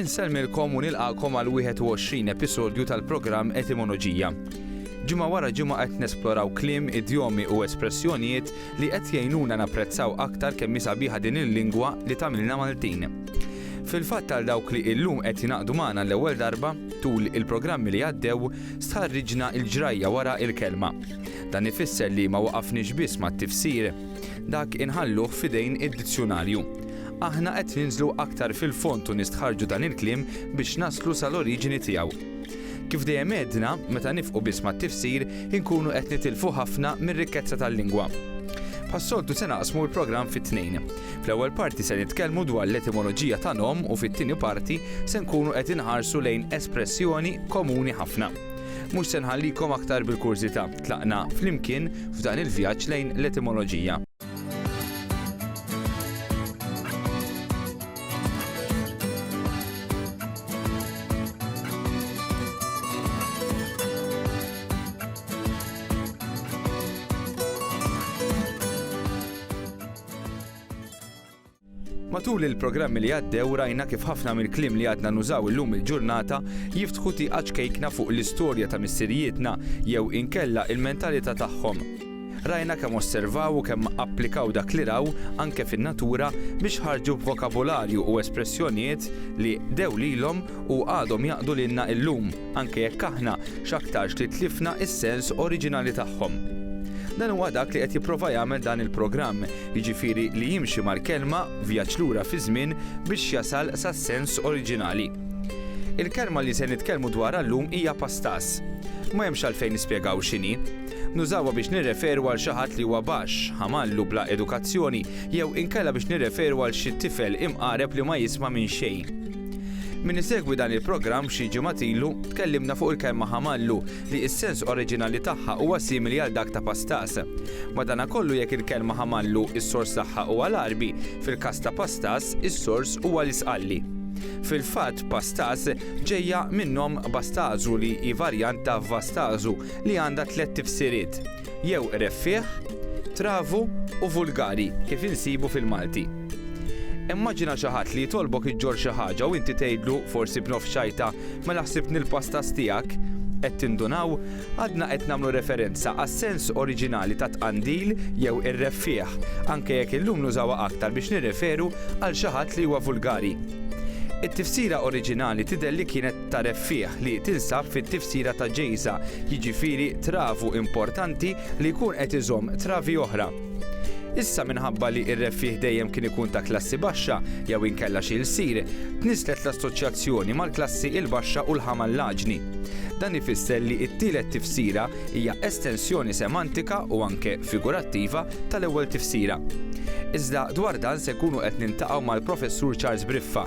Insellmilkom u nilqakom għal 21 episodju tal-programm Etimoloġija. Ġimgħa wara ġimgħa qed nesploraw kliem, idjomi u espressjonijiet li qed jgħinuna napprezzaw aktar kemm sabiħa din il-lingwa li tagħmilna Maltin. Fil-fatt għal dawk li illum qed jingħaqdu magħna l-ewwel darba tul il-programmi li għaddew, Stħarriġna l-ġrajja wara l-kelma. Dan ifisser li ma waqafniex biss mat-tifsir. Dak inħalluh f'idejn id-dizzjunarju. Aħna qed ninżlu aktar fil-fond u nistħarrġu dan il-kliem biex naslu sal-oriġini tiegħu. Kif dejjem għedna, meta nifqu biss mat-tifsir, inkunu qed nitilfu ħafna mir-rikkezza tal-lingwa. Bħas-soltu se naqsmu l-programm fi tnejn. Fl-ewwel parti se nitkellmu dwar l-etimoloġija ta' nom u fit-tieni parti se nkunu qed inħarsu lejn espressjoni komuni ħafna. Mhux se nħallikom aktar bil-kurżità, tlaqna flimkien f'dan il-vjaġġ lejn l-etimoloġija. Matul il-programmi li għaddew rajna kif ħafna mill-kliem li għadna nużaw illum il-ġurnata jiftħu tieqa ċkejkna fuq l-istorja ta' missirijietna jew inkella il-mentalità tagħhom. Rajna kemm osservaw u kemm applikaw dak li raw anke fin-natura biex ħarġu b'vokabularju u espressjonijiet li dew lilhom u għadhom jaqdu lilna illum. anke jekk aħna x'aktarx li tlifna s-sens oriġinali tagħhom. Dan huwa dak li qed jipprova jagħmel dan il-programm, jiġifieri li jimxi mal-kelma vjaġġ lura fiż-żmien biex jasal sas-sens oriġinali. Il-kelma li se nitkellmu dwarha llum hija pastas. Ma hemmx għalfejn nispjegaw x'inhi. Nużawha biex nirreferu għal xi ħadd li huwa baxx, ħamallu bla edukazzjoni jew inkella biex nirreferu għal xi tifel imqareb li ma jisma' minn xejn. Min isegwi dan il-programm xi ġimgħat ilu, tkellimna fuq il-kelma ħamallu li s-sens oriġinali tagħha huwa simili għal dak ta' pastas. Madankollu jekk il-kelma ħamallu s-sors tagħha huwa l-Għarbi, fil-każ ta' pastas is-sors huwa l-Isqalli. Fil-fatt pastas ġejja min-nom Bastazu li hi varjant ta' Vastazu li għandha tlett tifsiriet. jew reffiegħ, travu u vulgari kif insibu fil-Malti. Immaġina xi ħadd li jitolbok iġġorr xi ħaġa u inti tgħidlu, forsi b'nofs xajta, mela ħsibtni l-pastas tiegħek? Qed tindunaw? Għadna qed nagħmlu referenza għas-sens oriġinali ta' tqandil jew ir-reffiegħ, anke jekk illum nużawha aktar biex nirreferu għal xi ħadd li huwa vulgari. It-tifsira oriġinali tidher li kienet tagħref fih li tinsab fit-tifsira ta' ġejża, jiġifieri travu importanti li jkun qed iżomm travi oħra. Issa minħabba li r-reffiegħ dejjem kien ikun ta' klassi baxxa jew inkella xi lsir, tniżżlet l-assoċjazzjoni mal-klassi l-baxxa u l-ħamallaġni. Dan ifisser li t-tielet tifsira hija estensjoni semantika u anke figurattiva tal-ewwel tifsira. Iżda dwar dan se nkunu qed niltaqgħu mal-Professur Charles Briffa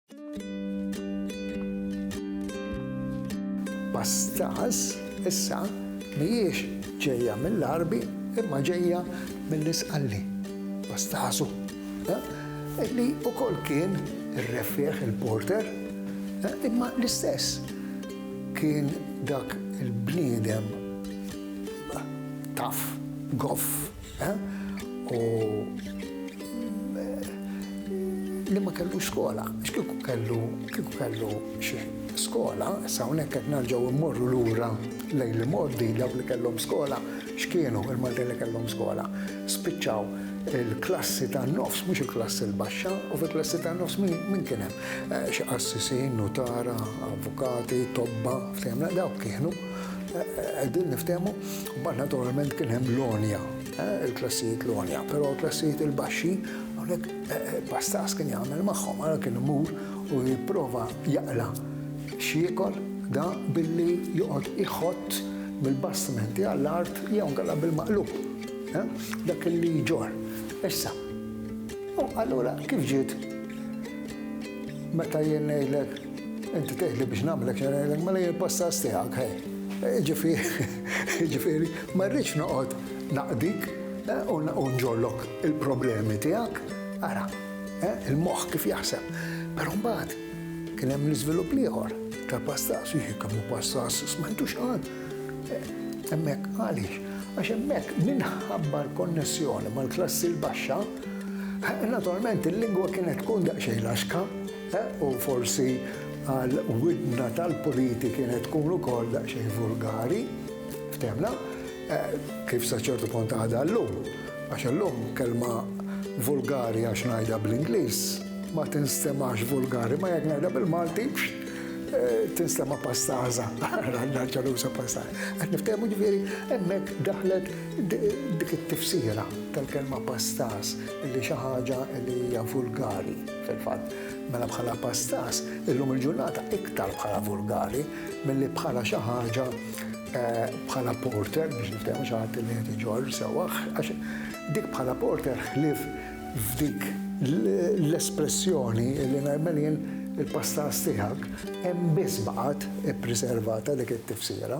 Pastas issa mhijiex ġejja mill-Għarbi imma ġejja mill-Isqalli, Pastasu, li wkoll kien irreffieh il-porter, imma l-istess kien dak il-bniedem tough, goff. U li ma kellu skola, x'kieku kellu kieku kellu xi skola, issa hawnhekk qed narġgħu mmorru lura lejn li mordi dawk li kellhom skola, x'kienu il-Maltin li kellhom skola. Spiċċaw il-klassi tan-nofs mhux il-klassi l-baxxa u fil-klassi tan-nofs min kien hemm? Xi qassisin, nutara, avukati, tobba, fehimna dawk kienu. Qegħdin niftehmu, mbagħad naturalment kien hemm l-għonja, eh, il-klassijiet l-għonja, però l-klassijiet il-baxxi hawnhekk eh, eh, pastas kien jagħmel magħhom, ara kien imur u jipprova jaqla xiekol da billi joqgħod iħott bil-bastimenti għall-art jew għalla bil-maqlub. Dak li ġor. Issa, u allura kif ġiet meta jien ngħidlek Inti tgħidli biex nagħmlek xerejlek mela jien passas tiegħek ħej. Ġifieri, ma rridx noqgħod naqdik eh, u nġollok il-problemi tiegħek. Ara, eh, il-moħħ kif jaħseb. Però mbagħad kien hemm l-iżvilupp l-ieħor tal-passas, jien kemm passas smajtux għal. Eh, hemmhekk għaliex, għax hemmhekk minħabba l-konnessjoni mal-klassi l-baxxa, naturalment il-lingwa kienet tkun daqsxejn laxka, U forsi għal widna tal-puliti kienet tkun ukoll daqsxejn vulgari, ftemna, kif sa ċertu punt għadha llum. Għax illum kelma vulgari għax ngħidha bl-Ingliż ma tinstemax vulgari, ma jekk ngħidha bil-Malti tinstema' pastaża, għandha ġaluża pastaża. Qed niftehmu ġifieri hemmhekk daħlet dik it-tifsira tal-kelma pastaż li xi ħaġa li hija vulgari. Fil-fatt, mela bħala pastas, illum il-ġurnata iktar bħala vulgari milli bħala xi ħaġa eh, bħala porter biex niftehmu xi ħadd li qed iġorr sewwa għax dik bħala porter ħlief f'dik l-espressjoni li ngħidmel jien il-pastas tiegħek hemm biss baqgħet ippriservata dik it-tifsira.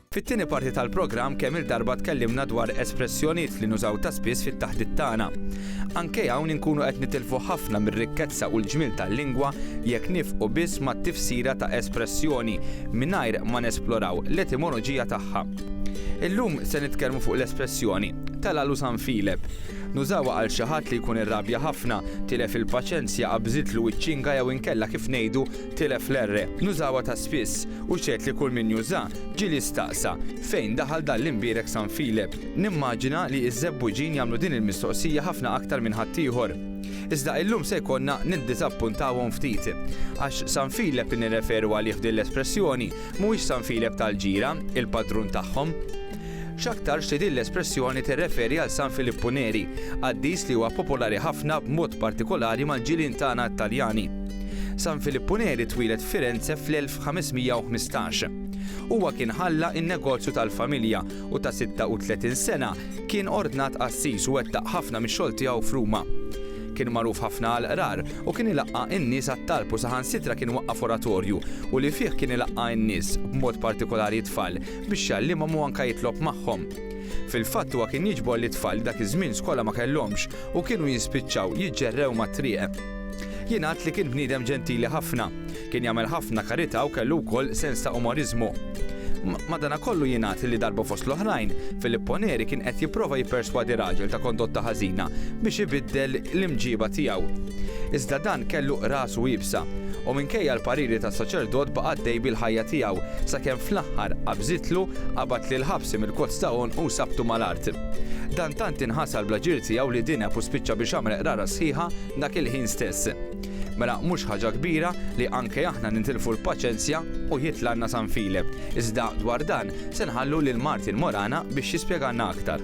Fit-tieni parti tal-programm kemm-il darba tkellimna dwar espressjoniet li nużaw ta' spiss fit-taħdit tagħna. Anke hawn inkunu qed nitilfu ħafna mir-rikkezza u l-ġmiel tal-lingwa jekk nifqu biss mat-tifsira ta' espressjoni mingħajr ma nesploraw l-etimoloġija tagħha. Illum se nitkellmu fuq l-espressjoni, Telalu San Filep. Nużawha għal xi ħadd li jkun irrabja ħafna, tilef il-paċenzja, qabżitlu iċ-ċinga jew inkella kif ngħidu Tilef l-R. Nużawha ta' spiss u x'għedt li kull min juża, ġieli staqsa, Fejn daħal dan l-imbierek San Filep? Nimmaġina li iż-Żebbuġin jagħmlu din il-mistoqsija ħafna aktar minn ħaddieħor. Iżda illum se jkollna niddiżappuntawhom ftit. Għax San Filep li nirreferu għalih f'din l-espressjoni mhuwiex San Filep tal-ġira, il-padrun tagħhom. X'aktarx li din l-espressjoni tirreferi għal San Filippu Neri, qaddis li huwa popolari ħafna b'mod partikolari mal-ġirien tagħna Taljani. San Filippu Neri twieled f'Firenze fl-1515. Huwa kien ħalla n-negozju tal-familja u ta' 36 sena kien ordnat qassis u wettaq ħafna mix-xogħol tiegħu f'Ruma. Kien magħruf ħafna għall-qrar u kien ilaqqa' n-nies għat-talb u saħansitra kien waqqaf oratorju u li fih kien ilaqqa' n-nies, b'mod partikolari t-tfal, biex jgħallimhom u anke jitlob magħhom. Fil-fatt huwa kien jiġbor lit-tfal li dak iż-żmien skola ma kellhomx u kienu jispiċċaw jiġġerrew mat-triq. Jingħad li kien bniedem ġentili ħafna. Kien jagħmel ħafna karità u kellu wkoll sens ta' umoriżmu. Madanakollu jingħad li darba fost l-oħrajn, Filippo Neri kien qed jipprova jipperswadi raġel ta' kondotta ħażina biex ibiddel l-imġieba tiegħu. Iżda dan kellu rasu iebsa. U minkejja l-pariri tas-saċerdot baqa' għaddej bil-ħajja tiegħu, sakemm fl-aħħar qabżitlu, qabad lil ħabsi mill-kozz ta' għonqu u sabtu mal-art. Dan tant inħasar bl-aġir tiegħu li dineb u spiċċa biex għamel qrara sħiħa dak il-ħin stess. Mela mhux ħaġa kbira li anke aħna nintilfu l-paċenzja u jitlgħalna San File. Iżda dwar dan se nħallu lil Martin Morana biex jispjegalna aktar.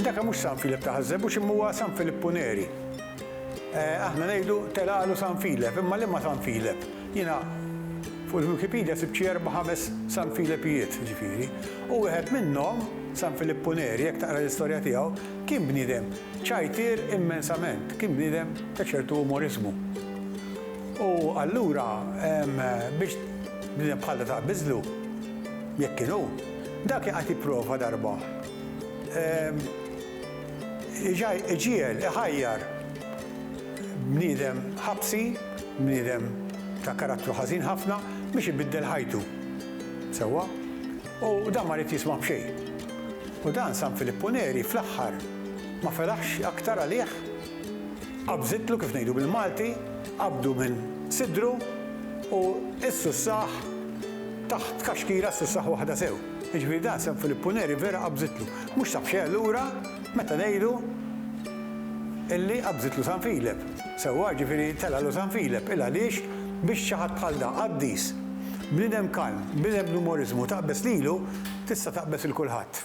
Daka mhux San Filep ta' Ħażżebbu x'imma huwa San Filippu Neri. Eh, aħna ngħidu telaqlu San Filep, imma liema San Filep? Jiena fuq il-Wikipedia sibt xi erba' ħames San Filepijiet, ġifieri. U wieħed minnhom, San Filippu Neri, jekk taqra l-istorja tiegħu, kien bniedem ċajtier immensament, kien bniedem ta' ċertu umoriżmu. U allura biex Bniedem bħal ta' biżlu, jekk kien hu, dak kien qed jipprova darba iġiegħel, iħajjar bniedem ħabsi, bniedem ta' karattru ħażin ħafna biex ibiddel ħajtu. Sewwa? U dan ma ried jisma' b'xejn. U dan San Filippu Neri fl-aħħar ma felaħx aktar għalih? Qabżitlu kif ngħidu bil-Malti, qabdu minn sidru u s-sussah taħt kaxkira s-sussah waħda sew. Jiġifieri dan San Filippu Neri vera qabżitlu. Mhux sab xejn lura meta ngħidu illi qabżitlu San Filep. Sewwa, jiġifieri telgħalu San Filep. Il-għaliex biex xi ħadd bħal dan, qaddis, bniedem kalm, bniedem bl-umoriżmu taqbeż lilu, tista' taqbeż 'il kulħadd.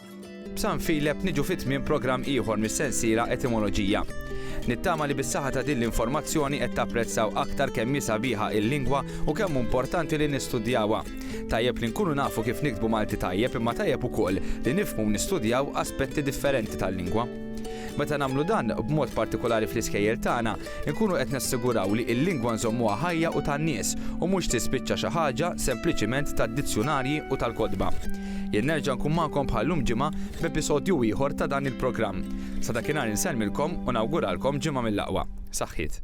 B'San Filep niġu fi tmiem programm ieħor mis-sensiela Etimoloġija. Nittama li bis-saħħa ta' din l-informazzjoni qed tapprezzaw aktar kemm hi sabiħa il-lingwa u kemm hu importanti li nistudjawha. Tajjeb li nkunu nafu kif niktbu Malti tajjeb imma tajjeb ukoll li nifhmu u nistudjaw aspetti differenti tal-lingwa. Meta nagħmlu dan, b'mod partikulari fl-iskejjel tagħna, Inkunu qed nassiguraw li l-lingwa nżommuha ħajja u tan-nies u mhux tispiċċa xi ħaġa sempliċiment tad-dizzjunarji u tal-kotba. Jien nerġa' nkun magħkom bħal llum ġimgħa b'episodju ieħor ta' dan il-programm. Sa dakinhar insellmilkom u nawguralkom ġimgħa mill-aqwa. Saħħiet.